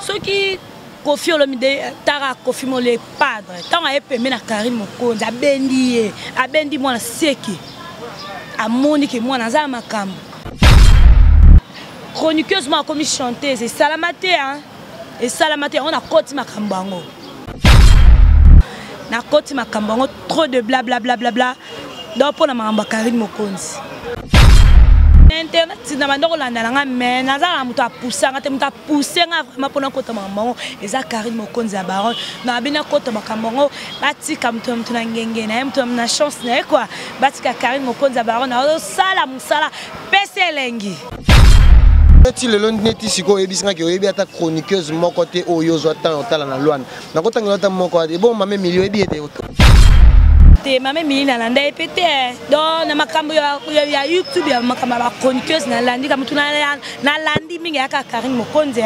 soki kofi olomide tara kofi mole padre ntango aye pembe na karine mokonzi abendi ye abendi mwana seke amoni ke mwana aza na makambo chroniqueuse moko akomi chanteuse esalama te esalama te yango nakoti makambo yango nakoti makambo yango trop de blablablablabla donc mpo na makambo ya karine mokonzi na internet na banda kolanda na nga mai naza na moto apusanga te moto apuse nga vraiment mpona kota makambo yango eza karine mokonzi ya baron nabi nakota makambo yango batika moto na moto na ngenge na ye moto na chance na ye kua batika karine mokonzi ya baron naozosala mosala pesa elengi neti lelo neti sikoyo oyebisi ngaki oyebi ata chroniqueuse moko te oyo ozwa ntango otala na lwana nakotangela ata moko ebongo mame milio oyebi ete te mame mili nalanda ye mpe te don na makambo ya youtube ya makambo ya bachroniqueuse nalandi kamotuna nalandi mingi yaka karine mokonzi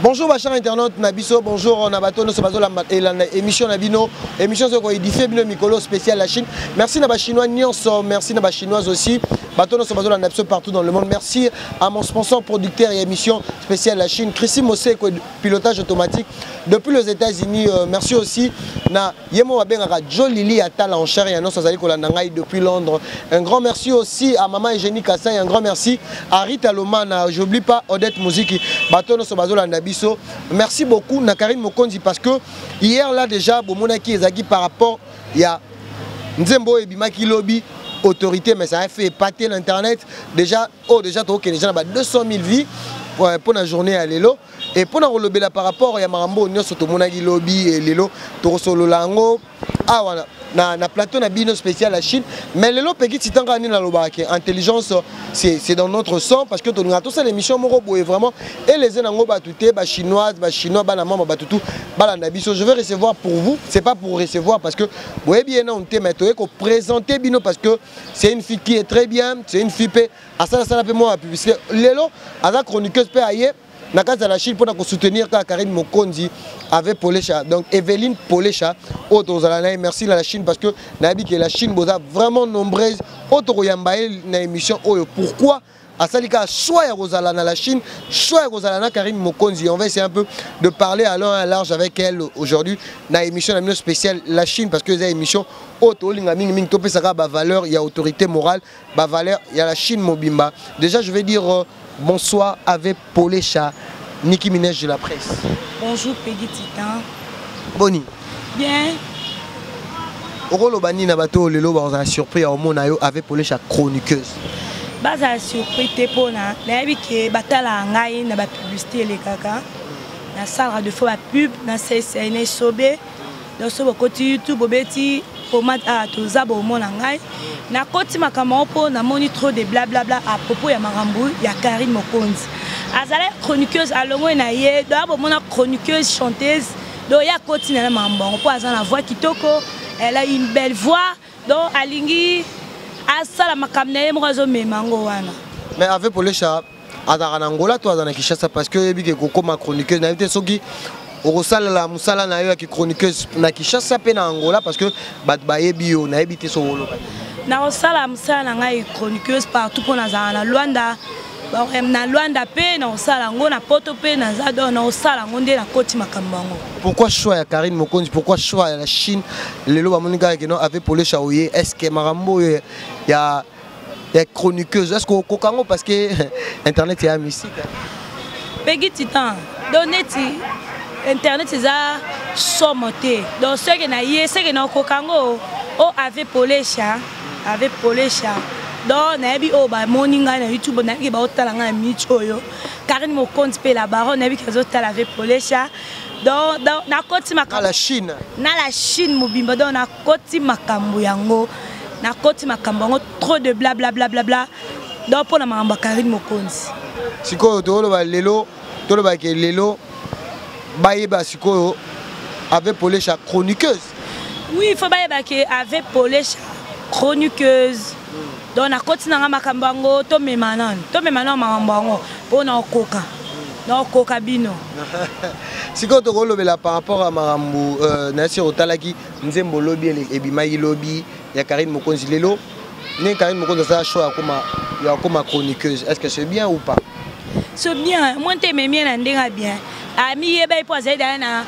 bonjour bachar internaute na biso bonjour na bato nyonso bazolamba elanda émission na bino émission soki koedifie bino mikolo spécial ya chine merci na bachinois nyonso merci na bachinoise aussi bato nyonso bazolanda biso partout dans le monde merci à mon sponsor producteur ya émission spécial ya chine christi moseko pilotage automatique depuis les États-Unis euh, merci aussi na yemo babengaka Joe Lili Atala en chair et en os azali kolanda ngai depuis Londres un grand merci aussi à maman Eugénie Kassin un grand merci à Rita Lomana j'oublie pas Odette Muziki bato nyonso bazolanda biso merci beaucoup na Karine Mokonzi parce que hier là déjà bomonaki ezalaki par rapport ya nzembo oyo ebimaki lobi autorité mais ça a fait épater l'internet déjà oyo deja tokokende deja na ba 200 000 vie mpo na journée ya lelo e mpo na kolobela par rapport ya makambo oyo nyonso tomonaki lobi e lelo tokosolola yango awa na, na plateau na bino spécial ya chine mais lelo peki titan kaka nini nalobaka ke intelligence c'est dans notre sang parce que tolingaka tosala émission moko boye vraiment eleze nango bato te bachinoise bachinois bana mama bato tu balanda biso je vais recevoir pour vous c'est pas pour recevoir parce que boyebi ye nanu te mais toye koprésente bino parce que c'est une fille qui est très bien c'est une fille mpe asalasala mpe mwa bapublicité lelo aza chroniqueuse mpe aye na kati ya la chine mpona kosoutenir kaka karine mokonzi avec polesha donc eveline polesha oyo tozala na ye merci na la chine parce que nayebi ke la chine boza vraiment nombreuse oyo tokoyamba ye na émission oyo pourquoi asali kaka choix ya kozala na la chine choix ya kozala na karine mokonzi on va essayer un peu de parler à long à large avec elle aujourd'hui na émission na bino spéciale la chine parce que eza émission oyo tolinga mingi mingi topesaka bavaleur ya autorité morale bavaleur ya la chine mobimba déjà je vais dire euh, bonsoir avec Polesha, Niki Minège de la presse. Bonjour Peggy Titan. Boni. Bien. okoloba nini na bato oyo lelo bakozala surpris ya omona yo avec polesha chroniqueuse bazala surpris te mpona nayebi ke batalaka ngai na bapublicité elekaka nasalaka de fois bapub na ccna sobe donc soki bokoti youtube bobeti pomade a ah, toza bomona ngai nakoti makambo yango mpo namoni trop de blablabla à propos ya makambo ya karine mokonzi azalaki chroniqueuse alongoi na ye doya bomona chroniqueuse chanteuse doya akoti na ye makambo yango mpo aza na voix kitoko elle a une belle voix donc alingi asala makambo na ye moko azomema yango wana mais ave polesha azalaka na angola to aza na kinshasa parce que oyebi ke kokoma chroniqueuse nayebi te soki okosalela mosala na yo ya kichroniqueuse na kinshasa mpe na angola parce que bato bayebi yo nayebi te soki oloba nakosala mosala na ngai chroniqueuse partout mpo nazala na luanda na Luanda pe na osala yango na Poto pe na Zado na osala yango nde na koti makambo yango. Pourquoi choix ya Karine Mokonzi? Pourquoi choix ya la Chine? Lelo ba moni kaka que non avec Pole Chaoye, est-ce que makambo ya ya chroniqueuse est-ce que okoka yango parce que internet ya musique? Peggy Titan, donc neti internet eza somo te. Donc ce que na ye, ce que na okoka yango o avec Pole Chaoye avec polesha donc nayebi oyo bamoni ngai na youtube nayebi baotala ngai na minute oyo karine mokonzi mpe la baron nayebi ke azotala avec polesha donc nakoti makambo na la chine na la chine mobimba donc nakoti makambo yango nakoti makambo yango trop de blablablablabla donc mpo na makambo ya karine mokonzi sikoyo toloba lelo tolobake lelo bayeba sikoyo avec polesha chroniqueuse oui faut bayeba ke ave polesha chroniqueuse donc nakoti na nga makambo yango tomema nano tomema nano makambo yango mpo na okoka naokoka bino sikoyo tokolobela par rapport ya makambo euh, na sur otalaki nzembo lobi ebimaki lobi ya karine mokonzi lelo Ndenge Karine Mokonzi asala show akoma ya akoma chroniqueuse, est-ce que c'est bien ou pas? C'est bien, moi nte ememi ye na ndenge ya bien. Amiyeba ye mpo azali daya na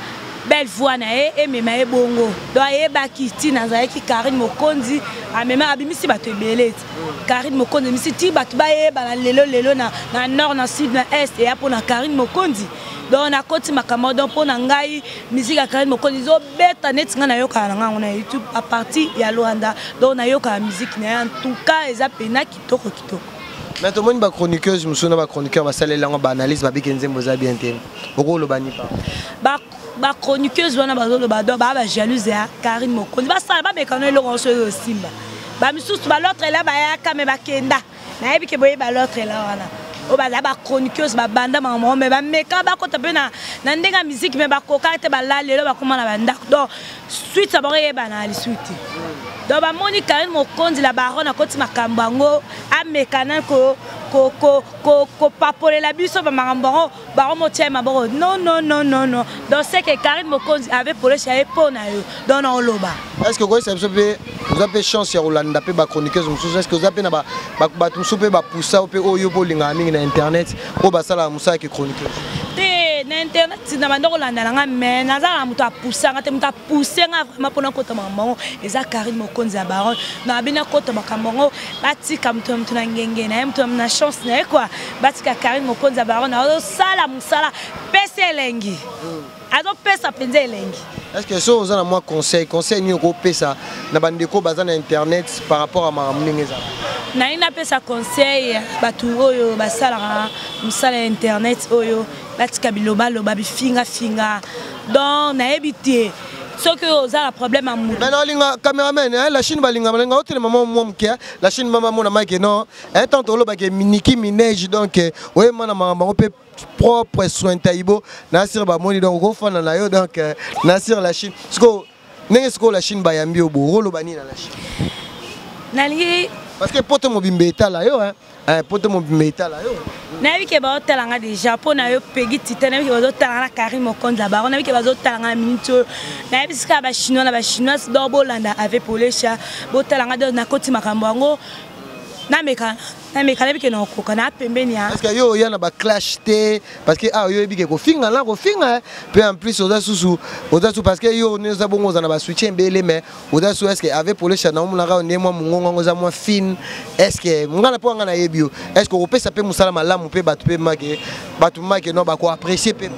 belle voix na ye emema ye bongo. Donc ayebaki ntina azalaki Karine Mokonzi amema abimisi bato ebele ete Karine Mokonzi emisi ti bato bayebana lelo lelo na, na nord na sud na est eya mpo na Karine Mokonzi. Donc nakoti makambo donc mpo na ngai miziki ya Karine Mokonzi beta neti ngai nayokaka na ngai yango na youtube apartir ya luanda donc nayokaka miziki na ye en tout cas eza mpena kitoko kitoko mais tomoni bachroniqueuse mosusu na bachroniqueur basaleli yango baanalyse babiki nzembo eza bien te okoloba nipa bachroniqueuse wana bazoloba do baa bajalouse ya karine mokonzi basala bamekano eloko yango soki osimba bamisusu balotre la bayaka me bakenda nayebi ke boyeba l'autre la wana oyo baza bachroniqueuse babanda mama moko mai bameka bakota mpe na ndenge ya miziki mai bakoka te balali lelo bakoma na bandako donc suite ya bango eyebana lisusu te donc bamoni karine mokonzi la baron akoti makambo yango ameka na kopapolela biso bamakambo yango bango motyai maboko no no no no no donc ce que karine mokonzi ave polesha ye mpo na yo donc na oloba est ce que okoyesa biso mpe oza mpe chance ya kolanda mpe bachroniqueuse mosusu est ce que oza mpe na bato mosusu mpe bapusa mpe oyo mpe olingaka mingi na internet oyo basalaka mosala ke chroniqueuse te na internet na banda kolanda na ngai mai naza na moto apusanga te moto apuse ngai vraimen mpona kota makambo yango eza karine mokonzi ya baron na bina kota makambo yango batika moto na moto na ngenge na ye moto na chance na ye kua batika karine mokonzi ya barone azosala mosala pesi elengi azopesa mpenza elengi estce so oza na mwa conseil conseil nini okopesa na bandeko baza na internet par rapport ya makambo ndenge ezala nalingi napesa conseil ya bato oyo basalaka mosala ya internet oyo batika bilobaloba bifingafinga donc nayebi te soki oyo oza na problème ya moto na olinga cameraman eh, la chine balingama linga otelema mwa mwa moke eh. la chine mama mona mike non un eh, temps tolobake miniki mineige donc oyema na makambo yango mpe propre soin taibo nasir bamoni donc okofanda na yo donc nasir la chine sikoyo ndenge sikoyo la chine bayambi yo bo okoloba nini na la chine nalingi parce que poto mobimba etala yo Eh, poto mobimba etala yo nayebi ke baotala nga deja mpo na yo pegi tita nayebi ke bazotala nga na carine mokonzi ya bango nayebi ke bazotala nga na miniti oyo nayebi sika bachinois na bachinoise dor bolanda ave polesha botala nga do nakoti makambo yango nameka nameka nayebi ke nakokoka na pembeni ya parceke yo oya na baclash te parceke awa ah, yo oyebi ke kofinga na kofinga mpe en plus oza susu oza susu parceke yo oza bongo oza na basoutie ebele mais oza su eske ave polesha na omonaka yo nde mwa mongongo yango eza mwa fine eske ngai na mpo ngai nayebi yo eske okopesa mpe mosala malamu mpe bato mpe make bato make no bakoapprécie mpe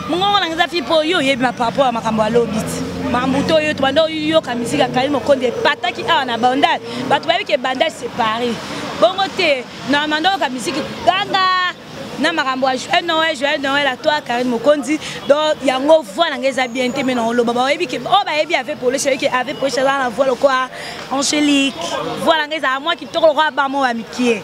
mongongo nanga eza fi mpo yo oyebi maparaport ya makambo ya lobi ti mambu to yo tobanda oyoka miziki akali mokonzi epataki awa na bandal bato bayebi ke bandal séparé bongo te na manda oyoka miziki ganga na makambo ya joyeux noël joyeux noël à toi karine mokonzi donc yango voix na ngai eza bien te mai na oloba bayebi ke oyo bayebi ave polish ayebi ke ave polish aza na voix lokola angélique voix na ngai ezala mwa kitoko lokola bamo ya mikie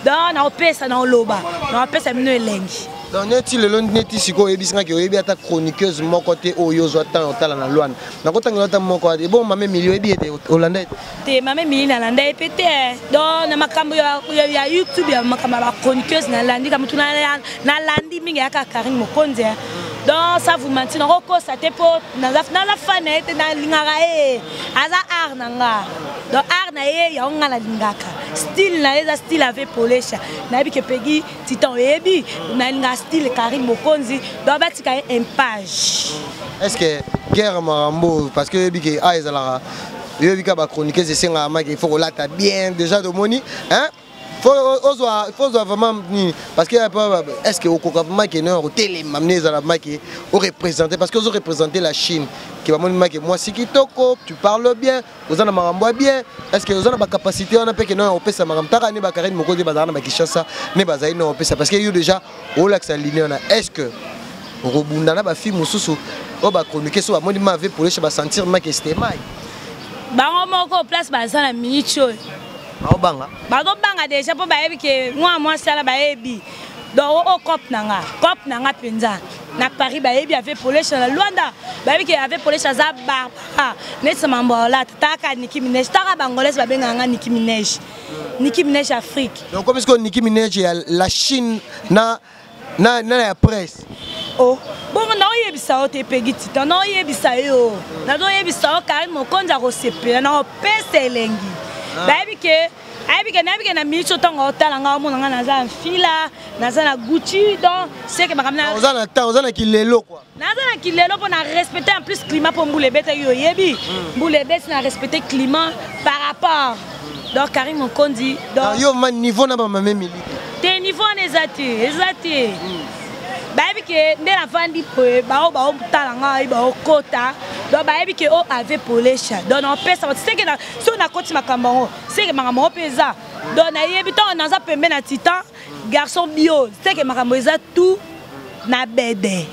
donc naopesa na oloba naopesa bino elengi donc neti lelo neti sikoyo oyebisi ngaki oyebi ata chroniqueuse moko te oyo ozwa temps otala na lwana nakotangela ata moko ebongo mame milio oyebi ete olanda ete te mama emili nalanda ye mpe te don na makambo ya youtube ya makambo ya bachroniqueuse nalandi ka motu nalandi mingi yaka karine mokonzi don sa vous manti nakokosa te mpo naza fan na ye te nalingaka ye aza art na nga don art na ye yango nga nalingaka style na ye eza style ave polesha nayebi ke pegi titan oyebi nalingaka style karine mokonzi don batika ye impage est ce que guerre marambo parce que oyebi ke a ezalaka Yo bika ba chroniqueuse esenga maki il faut kolata bien déjà tomoni hein ozwa vraiment nini parce que est ce que okoka vraiment ke no otelema mne ezala make orepresente parce que ozo represente la chine ke bamoni make mwasi kitoko tu parle bien oza na makambo ya bien est ce que oza na bacapacité wana mpe ke no opesa makambo taka ne bakarine mokonzi bazala na bakishasa ne bazali na opesa parce que yo déjà olakisa ligne wana est ce que okobunda na bafille mosusu oyo bachroniquer so bamoni ma vie polesha basentir make stemai bango moko place baza na minute oyo baobanga bazobanga deja mpo bayebi ke mwa mwasi ala bayebi donc o oh, cop oh, na nga cop na nga mpenza na paris bayebi ave polesha na luanda bayebi ke ave polesha aza barbara neti mambo olata taka niki minege taka bangolese babengaka nga niki minege Nicki Minaj Afrique. Donc comme que Nicki Minaj ya la Chine na na na ya presse. Oh, bon na oyebisa yo te Peggy Titan, na oyebisa yo. Na do oyebisa yo Karine Mokonzi akosepela na opesa elengi. Ah. Bayebi ke ayebi ke nayebi ke na minute otango otala nga omona nga naza na fila, naza na Gucci donc c'est que makambo na Oza na temps, oza na kilelo quoi. naza na kilelo mpo na respecte en plus climat mpo mbula ebetaki yo oyebi hmm. mbula ebeti na respecte climat par rapport donc karine mokondi yo ma niveau na bamame miliki te niveau wana eza te eza te hmm. bayebi ke nde nafandi boye baoyo baotala ngai baokota donc bayebi ke o oh, ave polesha donc naopesa bato seke soki nakoti makambo yango seke makambo yango mpe eza donc nayebi ntango naza pembe na titan garçon bio seke makambo eza tout na bede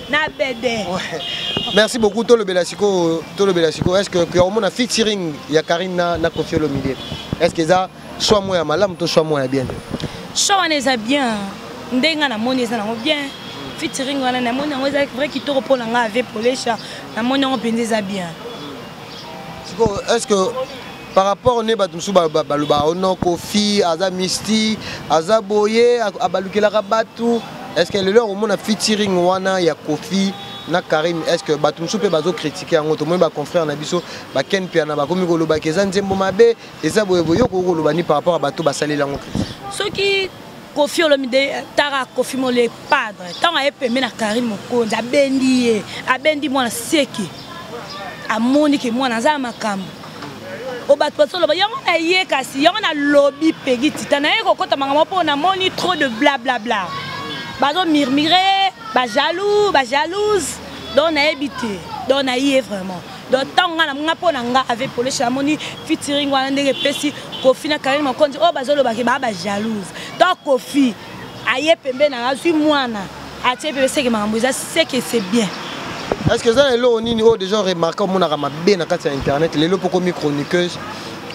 na bede merci beaucoup tolobela sikoyo tolobela sikoyo est ce que omona featuring ya karine na, na kofi olomide est ce que eza soit moko ya malamu to soit moko ya bien soit wana eza bien ndenge nga namoni eza nango bien featuring wana namoni yango eza vrai kitoko mpo na nga ave polesha namoni yango mpenza eza bien sikoyo est ce que par rapport ne bato mosusu balobaka ono kofi aza misti aza boye abalukelaka bato est ce que lelo akomona featuring wana ya kofi na Karim est-ce que bato mosusu mpe bazokritike yango tomoni baconfrère na biso baken mpiana bakomi kolobaki eza nzembo mabe eza boyeboye yo okoki koloba ni par rapport ya bato basaleli yango soki kofi olomide tara kofi mole padre ntango aye pembe na karine mokonzi abendi ye abendi mwana seke amoni ke mwana aza ya makambo o bato bazoloba yango na ye kasi yango nalobi pegi tita naye kokota makambo mpo namoni trop de blablabla bazomurmure bajaloux bajalouse donc nayebi te donc naye vraiment donc ntango ngai namona mpo na ngai avec polesha namoni fitiring wana ndenge epesi kofi na karine mokonzi oyo bazolobaki baa bajalouse to kofi aye pembeni na azwi mwana atie bebe seke makambo eza seke c'est bien est ce que eza na eloko nini oyo déjà remarke omonaka mabe na kati ya internet lelo mpo komi chroniqueuse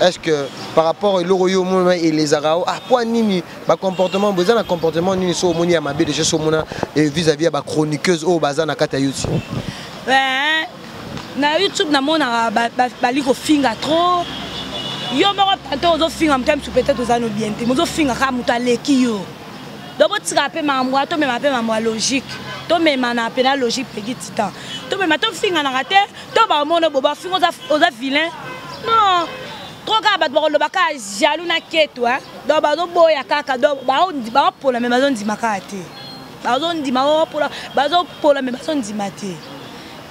est ce que par rapport eloko yo omona elezaka o ah mpo nini bacomportement boza na comportement nini so omoni ya mabe déjà so omona eh, vis-à-vis ya bachroniqueuse oyo baza na kati ya youtube na youtube namonaka bali kofinga trop yo moko tante ozofinga moto ya misu peut-être oza no bien te mozofinga kaka moto aleki yo donc botikaka mpe makambo wana tomema mpe makambo ya logique tomemana mpe na logique pegi titan tomema tofinganaka te to bamono bo bafinga oza vilain non trop kaka bato bakoloba kaka jaloux na keto donc bazoboya kaka donc baopona me bazondima kaka te bazondima oh, pola bazopola me bazondima te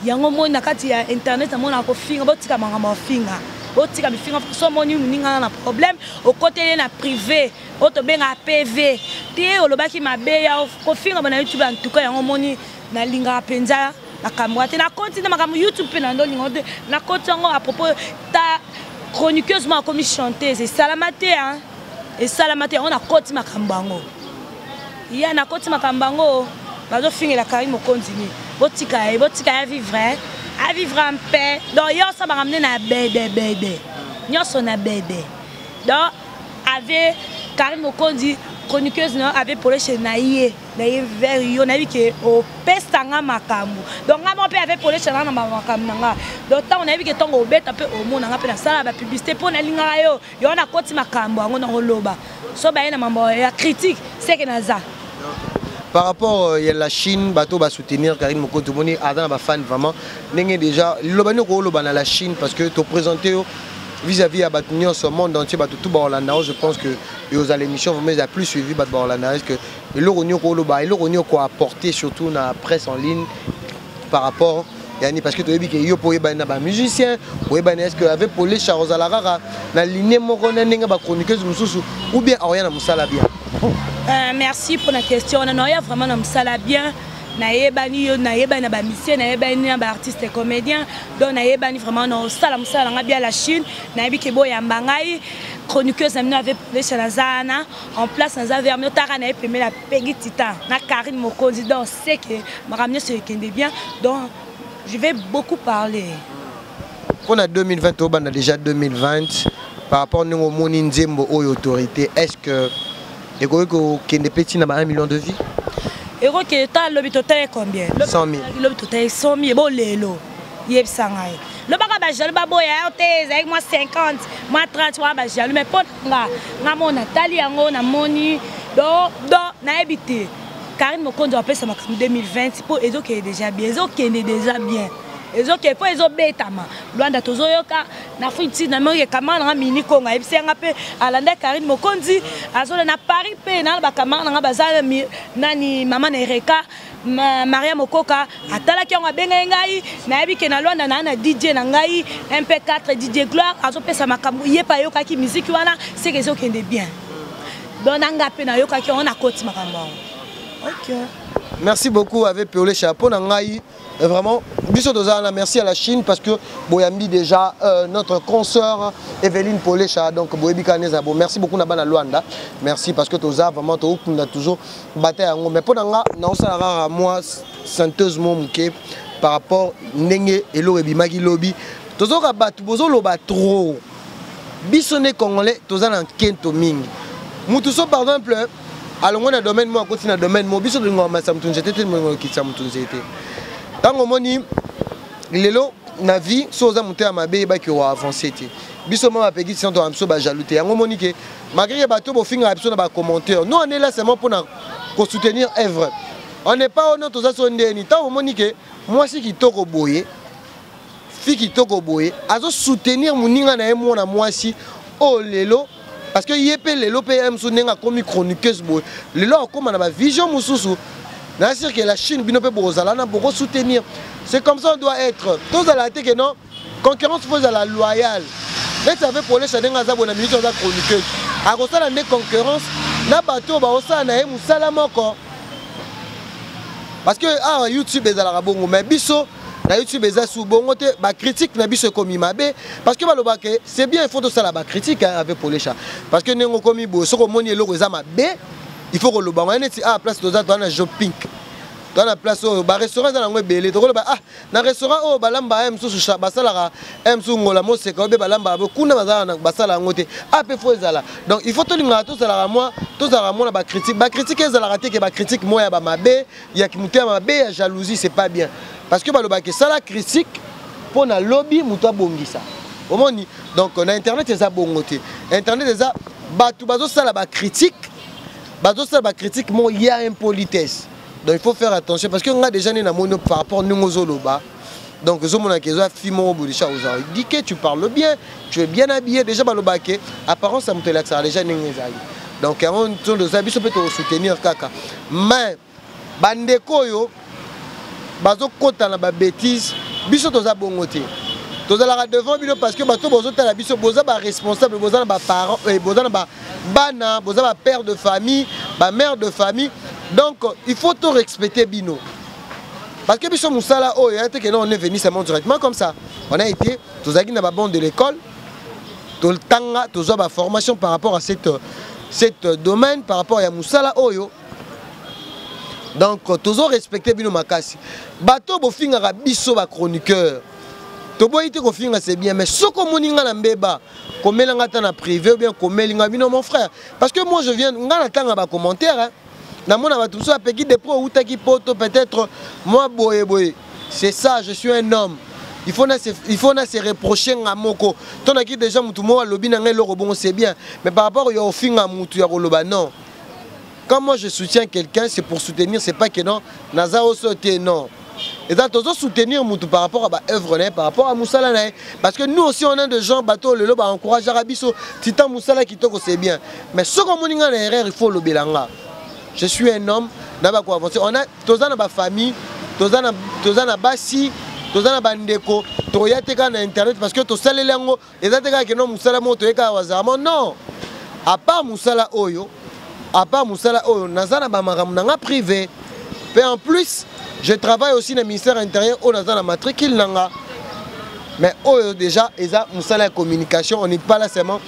yango moi na kati ya internet namonaka kofinga botika makambo ya finga botika bifinga so omoni moningana na problème okoteli ye na privé oyo tobengaka pv te olobaki mabe ya kofinga bana youtube ya ntuka yango omoni nalingaka mpenza makambo ya te nakoti na makambo youtube mpe na ndolingo te nakoti yango à propos ta chroniqueuse moko akomi chanteuse esalama te esalama te yango nakoti makambo yango ya nakoti makambo yango bazofingela kari mokonzi nini botika ye botika ya vivre avivre en paix donc ye osabaka mne na bedebede nyonso na bede donc ave kari mokonzi chroniqueuse na yo ave poleshe na ye na ye vers yo nayebi ke opesa nga makambo donc nga moko mpe ave poleshe nga na makambo na nga donc ntango nayebi ke ntongo obeta mpe omona nga mpe nasala bapublicité mpo nalingaka yo yo wana akoti makambo yango nakoloba so baye na mambo ya critique seke naza par rapport euh, ya la chine bato basoutenir karine moko tomoni aza na bafane vraiment ndenge déjà liloba nini okoloba na la chine parce que toprésente yo vis-à-vis ya bato nyonso monde entier bato tout baolanda yo je pense que eoza l'émission vraiment eza plus suivi bato baolanda est ce que eloko nini okoloba eloko nini okoapporte surtout na presse en ligne par rapport yani parce que toyebi ke yo mpo oyebani na bamusicien oyebani est ce que avec pole char ozala kaka na ligne moko na ndenge bachroniqueuse mosusu ou bien aoya na mosala bien euh, merci mpona question wana naoya vraiment na mosala bien nayebani yo nayebani na bamisie nayebani na baartiste comédien donc nayebani vraiment naosala mosala na ngai bia la chine nayebi ke boyamba ngai chroniqueuse na bino ave polesha naza wana en place naza vermi otaka na ye pemela Peggy Titan na Karine Mokonzi donc c'est que makambo nyonso ekende bien donc je vais beaucoup parler mpo na 2020 tobanda déjà 2020 par rapport ndenge omoni nzembo oyo autorité est ce que ekoki kokende mpe ntina ba 1 million de vie ekokende ta lobi totali combien 100 000 lobi totali 100 000 bo lelo yebisa ngai lobaka bajaloux baboya yo te ezalaki mwa 50 mwa 30 wana bajaloux mai mpo nga nga mo natali yango namoni do do nayebi te karine mokonzi apesa makambo 2020 mpo ezokende deja bien ezokende deja bien ezokende mpo ezobetama lwanda tozoyoka na futi namoki ekamara nanga mini kongo ayebisi yanga mpe alanda karine mokonzi azola na paris mpe na bakamara nanga baza nani mama na ereka maria mokoka atalaki yango abengaki ngai nayebi ke na lwanda naa na dj na ngai mp4 dj gloire azopesa makambo ye mpe ayokaki miziki wana seke ezokende bien don na ngai mpe nayokaki yango nakoti makambo yango okay. merci beaucoup avec peolesha mpo na ngai euh, vraiment biso toza na merci à la chine parce que boyambi déjà euh, notre consoeur evelyne polesha donc boyebi kaka neza bo merci beaucoup na bana luanda merci parce que toza vraiment tookunda toujours bata yango mais mpo na nga naosala kaka mwa synthèse mo moke par rapport ndenge eloko ebimaki lobi tozoka bato bozoloba trop biso nde congolais toza na nkento mingi motu so par exemple alongwe na domaine moko akoti na domaine moko biso tolingaka matisa motu nzete te tolingaka kokitisa motu nzete ntango omoni lelo na vie so oza moto ya mabe yebaki oavanse te biso mwa bapekisi ntango toka biso bajaloux te yango omoni ke malgré que bato bofingaka biso na bacommentaire no ane lasement mpo na kosoutenir œuvre on n'est pas ono toza so ndeni ntango omoni ke mwasi kitoko boye fi kitoko boye azosoutenir moninga na ye mwana mwasi oyo oh, lelo parce que ye mpe lelo mpe ye mosusu ndenge akomi chroniqueuse boye lelo akokoma na bavision mosusu na sirke la chine bino mpe bokozala na bokosoutenir c'est comme ça on doit être tozala te ke non concurrence faut ezala loyale neti ave polesha ndenge aza boye na minute aza chroniqueuse akosala nde concurrence na bato oyo baosala na ye mosala moko parce que awa ah, youtube ezalaka bongo mais biso na youtube eza su bongo te bacritique na biso ekomi mabe parce que balobaka ke c'est bien il faut tosala bacritique avec polesha parce que ndenge okomi boye soki omoni eloko eza mabe il faut koloba yango neti ah place toza toza na jopink toza na place oyo barestaurant eza nango ebele tokoloba ah na restaurant oyo balamba ye mosusu basalaka ye mosusu ngola moseka oyo mpe balambaka bo kuna bazalaka basala yango te ape fo ezala donc il faut tolingaka tozalaka mwa tozalaka mwa na bacritique bacritique ezalaka te ke bacritique mwa ya bamabe ya moto ya mabe ya jalousie c'est pas bien parce que balobaka esala critique mpo na lobi moto abongisa omoni donc na internet eza bongo te internet eza bato bazosala bacritique bazosala bacritique mo ya impolitesse donc il faut faire attention parce que nga déjà nde namoni par rapport ndenge ozoloba donc ezomonaka eza fi moko bodisha oza dike tu parle bien tu es bien habillé déjà balobaka ke apparence ya moto elakisaka déjà ndenge ezali donc yango ntondo eza biso mpe tokosoutenir kaka mais bandeko oyo bazokota na babétise biso toza bongo te tozalaka devant bino parce que bato bozotala biso boza baresponsable boza na baparent eh, boza na ba bana boza ba père de famille ba mère de famille donc il faut to respecter bino parce que biso musala oyo ya teke on est venu seulement directement comme ça on a été tozalaki na ba banc de l'école totanga tozwa ba formation par rapport à cette cette domaine par rapport ya musala oyo donc tozo respecter bino makasi bato bofingaka biso ba chroniqueur toboyi te kofinga c'est bien mais soko omoni nga na mbeba komela nga ata na privé ou bien komeli nga bino mon frère parce que moi je viens nga natanga ba commentaire hein. namona bato mosusu apeki depro outaki poto peut-être mwa boye boye c'est ça je suis un homme il faut na se reprocher nga moko to naki déjà motu moko alobi na ngai eloko bongo c'est bien mais par rapport ya ofinga motu ya koloba non quand moi je soutiens quelqu'un c'est pour soutenir c'est pas que non naza oso te non eza tozo soutenir mutu par rapport à ba œuvre na ye par rapport à musala na ye parce que nous aussi on a des gens bato lelo ba encourageaka biso tita musala kitoko c'est bien mais soki omoni nga na erreur il faut olobela nga je suis un homme na bako avancer on a toza na ba famille toza na toza na basi toza na bandeko toya te kaka na internet parce que tosaleli yango eza te kaka keno mosala moko toye kaka wazarama non apart mosala oyo apart mosala oyo naza na bamakambo na nga privé mpe en plus je travaille aussi na ministère intérieur oyo naza na matricule na nga mais oyo déjà eza mosala ya communication on n'est pas là seulement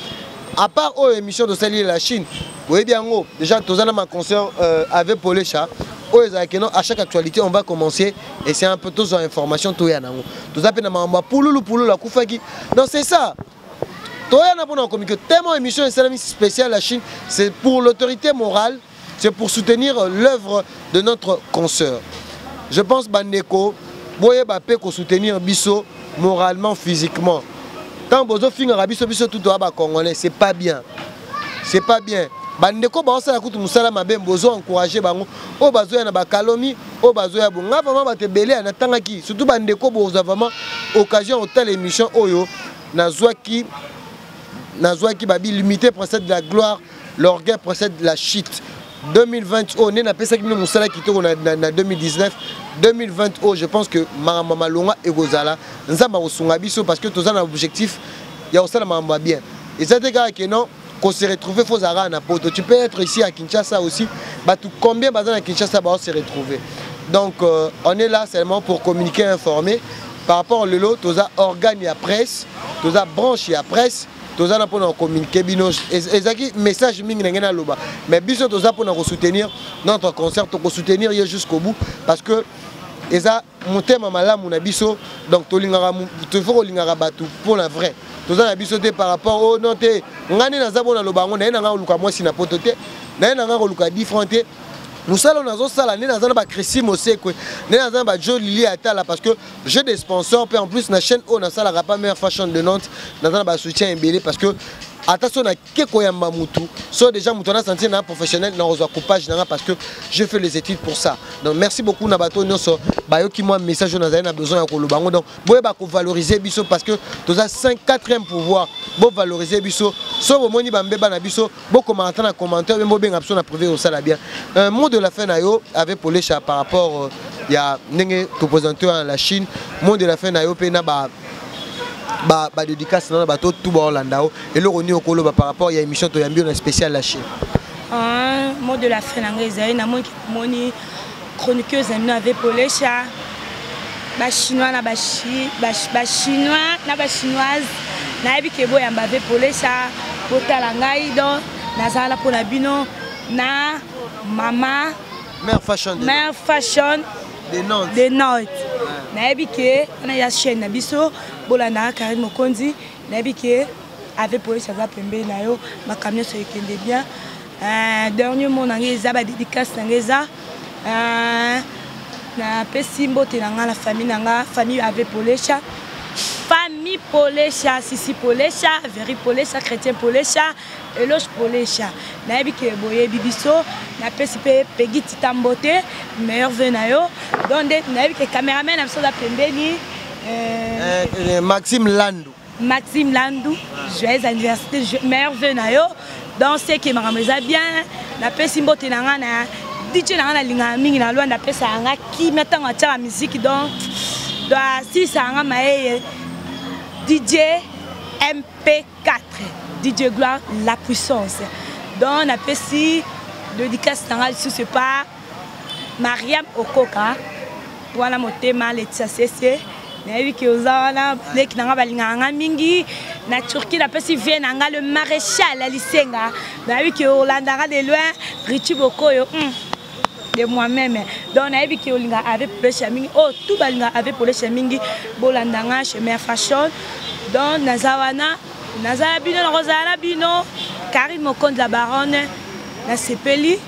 à part oyo émission tosali la chine boyebi yango déjà toza na maconcert euh, avec polecha oyo ezalaka keno à chaque actualité on va commencer et c'est un peu tozwa information toya nango toza mpe na makambo ya pululu pululu akufaki donc c'est ça toya na mpona kokomiki tellement émission esalami spéciale la chine c'est pour l'autorité morale c'est pour soutenir l'œuvre de notre consoeur je pense bandeko boyeba mpe kosoutenir biso moralement physiquement ntango bozofingaka biso biso tutoya bacongolais c'est pas bien c'est pas bien bandeko baosala kutu mosala mabe bozo encourage bango oyo bazoya na bakalomi oyo bazoya bo ngai vraiment bato ebele ya natangaki surtout bandeko bozwa vraiment occasion ya kotala émission oyo nazwaki nazwaki babi limité procède de la gloire l'orgueil procède de la chute 2020 oyo nde napesaki bino mosala kitoko na, na, na 2019 2020 oyo je pense que makambo ya malonga ekozala nzambe akosunga biso parce que toza na objectif ya kosala makambo ya bien eza te kaka ke non qu'on se retrouve faut zara na poto tu peux être ici à Kinshasa aussi bah tout combien baza na Kinshasa bah on se retrouver donc euh, on est là seulement pour communiquer informer par rapport au lelo toza organe ya presse toza branche ya presse toza na pona communiquer bino ezaki message mingi na ngai naloba mais biso toza pona ko soutenir notre concert to ko soutenir ye jusqu'au bout parce que eza motema malamu na biso donc tolingaka tofo kolingaka bato mpo na vrai toza na biso te par rapport o oh non te ngai nde naza bona loba yango naye na ngai koluka mwasi na poto te naye na ngai koluka different te mosala oyo nazosala nde naza na bachrisi mosekwe nde naza na bajo lili atala parce que j'ai des sponsors puis en plus na chaîne oyo nasalaka pas meilleure fashion de Nantes naza na ba soutien ebele parce que ata so nake koyamba mutu so déjà mutu ana sentir na professionnel na kozwa coupage nanga parce que je fais les études pour ça donc merci beaucoup na bato nyonso bayoki mwa message oyo nazali na besoin ya koloba yango donc boyeba kovaloriser biso parce que toza 5 4e pouvoir bovaloriser biso so bomoni bambeba na biso bokoma ata na commentaire meme bobenga biso na privé osala bien euh, mot de la fin na yo avec polesha par rapport euh, ya ndenge topresente wana la chine mot de la fin na yo mpe na ba badédicace na bato tu baolanda yo eloko nini okoloba par rapport ya émission toyambi yo na spécial la chine ah, mot de la fin na ngai ezali namoni moni chroniqueuse na bino ave polesha bachinois na bachinois na bachinoise nayebi ke boyamba ave polesha botala ngai donc nazala mpo na bino na mama mère fashion mère fashion de nantes de nantes nayebi ke wana ya chaîne na biso bolanda karine mokonzi nayebi ke ave polesha aza pembeni na yo makambo nyonso ekende bien Euh, dernier mot na ngai eza badédicace na ngai eza euh, napesi mbote na ngai na famille na ngai famille ave polesha famille polesha sisi polesha veri polesha chrétien polesha eloge polesha nayebi ke boyebi biso napesi mpe pegi tita mbote meilleur ve na yo don nde nayebi ke cameraman na biso aza pembeni euh, maxime landu Maxime Landu, joyeux anniversaire, meilleur vœu na yo. Donc c'est que makambo eza bien. Napesi mbote na nga na DJ na nga nalingaka mingi na Luanda apesaka nga kimia ntango atyaka miziki donc donc asilisaka nga mayeye DJ MP4 DJ Gloire la puissance donc napesi dédicace na nga lisusu epa mariam okoka wana motema letisa sese nayebi ke oza wana leki na ngai balingaka ngai mingi na turquie napesi vie na ngai le maréchal ya lisenga nayebi ke olandaka de loin richi bokoyo mm. de moi-même donc nayebi ke olingaka ave polesha mingi oyo oh, tu balingaka ave polesha mingi bolanda ngai chemin fashion donc naza wana naza na bino nakozala na bino karine mokonzi la baronne nasepeli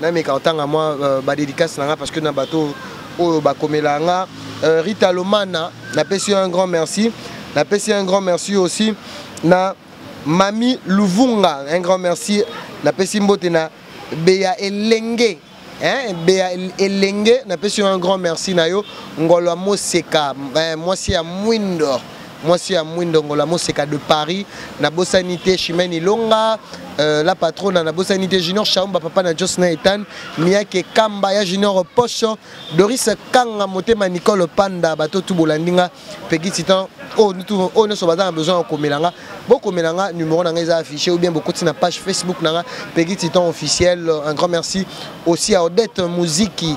nameka kotanga mwa euh, badedicase na nga parce que na bato oyo bakomela nga euh, rita lomana napesi yo un grand merci napesi un grand merci aussi na mami luvunga un grand merci napesi mbote na beya elenge hein, beya elenge napesi yo un grand merci na yo ngolo ya moseka eh, mwasi ya mwindo mwasi ya mwindongola moseka de paris nabosani te chimene ilonga euh, la patrona nabosani te junior shaumba papa na jos na etan miake kamba ya junior pocho doris kanga motema nicole panda bato tu bolandi nga pegi titan oyo oh, oh, nyonso baza na besoin ya komela nga bokomela nga numero na nga eza affiché ou bien bokoti na page facebook na nga pegi titan officiel un grand merci aussi à odette muziki